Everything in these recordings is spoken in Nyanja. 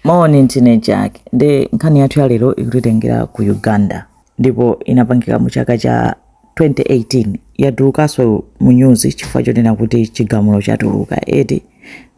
Moni ndine Jack ndi nkhani yathu ya lero ikutitengera ku Uganda ndipo inapangika mu chaka cha 2018 yatulukanso mu nyuzi chifukwa chonena kuti chigamulo chatuluka eti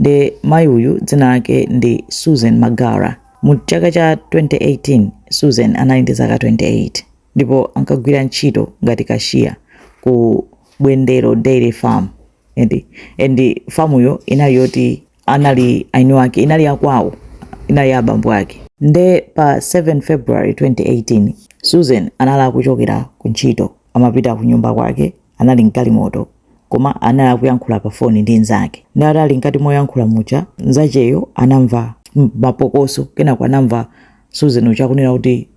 ndi mayi uyu dzina lake ndi Susan Magara mu chaka cha 2018 Susan anali ndi zaka 28 ndipo ankagwira ntchito ngati cashier ku Bwendero Dairy Farm eti and famuyo inali yoti anali eni ake inali ya kwawo inali ya abambo ake nde pa 7 february 2018 susan anali akuchokera ku ntchito amapita ku nyumba kwake anali mgalimoto koma anali akuyankhula pa foni ndi mnzake nde atali mkati moyankhula muja mnzacheyo anamva m- mapokoso kenako anamva susan uja akunena kuti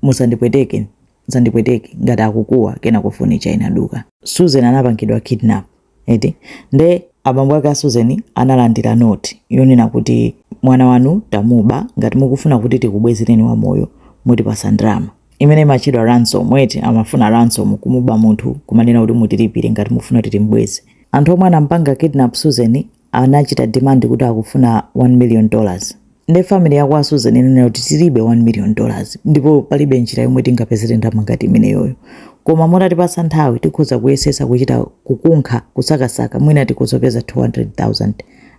musandipweteke sandipweteke ngati akukuwa kenako foni ija inaduka. Susan anapangidwa kidnap eti nde abambo ake a Susan analandira note yonena kuti mwana wanu tamuba ngati mukufuna kuti tikubwezereni wamoyo mutipatsa ndalama imene imatchedwa ransom eti amafuna ransom kumuba munthu kumanena kuti mutilipire ngati mukufuna kuti timbweze. Anthu omwe anampanga kidnap Susan anachita demand kuti akufuna 1 million dollars nde family ya kwa Susan inanena kuti tilibe 1 million dollars ndipo palibe njira yomwe tingapezere ndalama ngati imeneyoyo koma mutatipasa nthawi tikhoza kuyesetsa kuchita kukunkha kusakasaka mwina tikhoza kupeza 200,000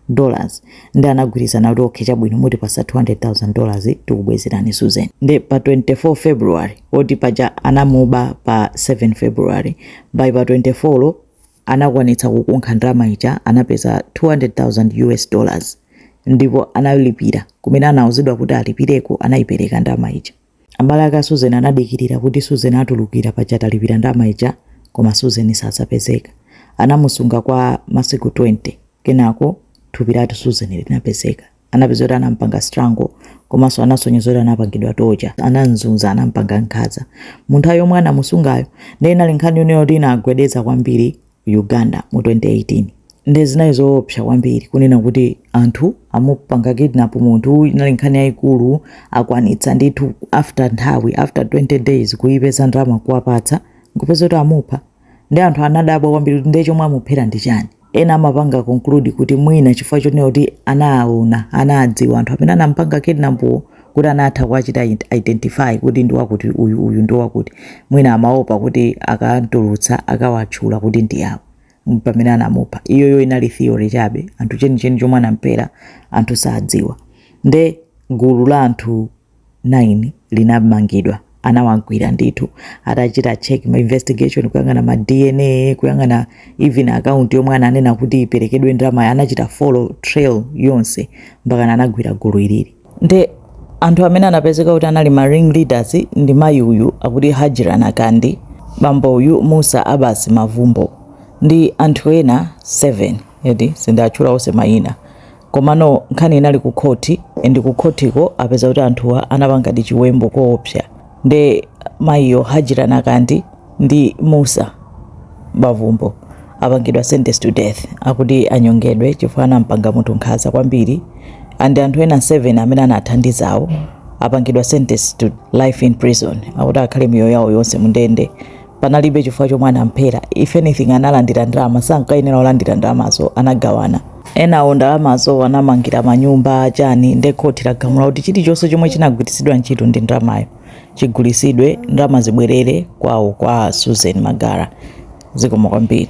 dollars nde anagwirizana kuti okay chabwino mutipatsa 200,000 dollars tikubwezerani Susan nde pa 24 February eti paja anamuba pa 7 February by pa 24 lo anakwanitsa kukunkha ndalama ija anapeza 200,000 US dollars ndipo analipira kumene anauzidwa kuti alipireko anayipereka ndalama ija abale ake a Susan anadikirira kuti Susan atulukira paja atalipira ndalama ija koma Susan sanapezeke anamusunga kwa masiku 20 kenako thupi lake Susan linapezeka anapeza kuti anampanga strangle komanso anasonyeza kuti anapangidwa torture ananzunza anampanga nkhaza mu nthawi yomwe anamusungayo nde inali nkhani yonena kuti inagwedeza kwambiri uganda mu 2018 nde zinali zoopsa kwambiri kunena kuti anthu amupanga kidnap munthu inali nkhani yayikulu akwanitsa ndithu after nthawi after 20 days kuyipeza ndalama kuwapatsa nkupeza kuti amupha Nde anthu anadabwa kwambiri kuti nde chomwe amuphera ndi chani? Ena amapanga conclude kuti mwina chifukwa chonena kuti anaaona, anaadziwa anthu amene anamupanga kidnap wo kuti anatha kuwachita identify kuti ndi wakuti uyu, uyu ndi wakuti. Mwina amaopa kuti akamtulutsa akawatchula kuti ndi awa. Mpamene anamupha. Iyoyo inali theory chabe. Anthu chenicheni chomwe anamuphera anthu sadziwa. Nde gulu la anthu 9 linamangidwa anawagwira ndithu atachita check ma investigation kuyang'ana ma dna kuyang'ana even account yomwe ananena kuti iperekedwe ndalamayo anachita follow trail yonse mpakana anagwira gulu ilili nde anthu amene anapezeka kuti anali ma ring leaders ndi mayi uyu akuti hajira nakandi bambo uyu musa abbas mavumbo ndi anthu ena 7 edi sindinatchule onse mayina Komano nkhani inali ku khoti and ku khotiko apeza kuti anthuwa anapangadi chiwembu koopsa nde mayiyo Hajira Nakandi ndi Musa Mavumbo apangidwa sentence to death akuti anyongedwe chifukwa anampanga munthu nkhanza kwambiri and anthu ena 7 amene anathandizawo apangidwa sentence to life in prison akuti akhale miyoyo yawo yonse mundende panalibe chifukwa chomwe anamphera if anything analandira ndalama sankayenera olandira ndalamazo anagawana ena ndalamazo anamangira manyumba chani nde khoti lagamula kuti chilichonse chomwe chinagwiritsidwa ntchito ndi ndalamayo chigulitsidwe ndalama zibwerere kwawo kwa susan magara zikomo kwambiri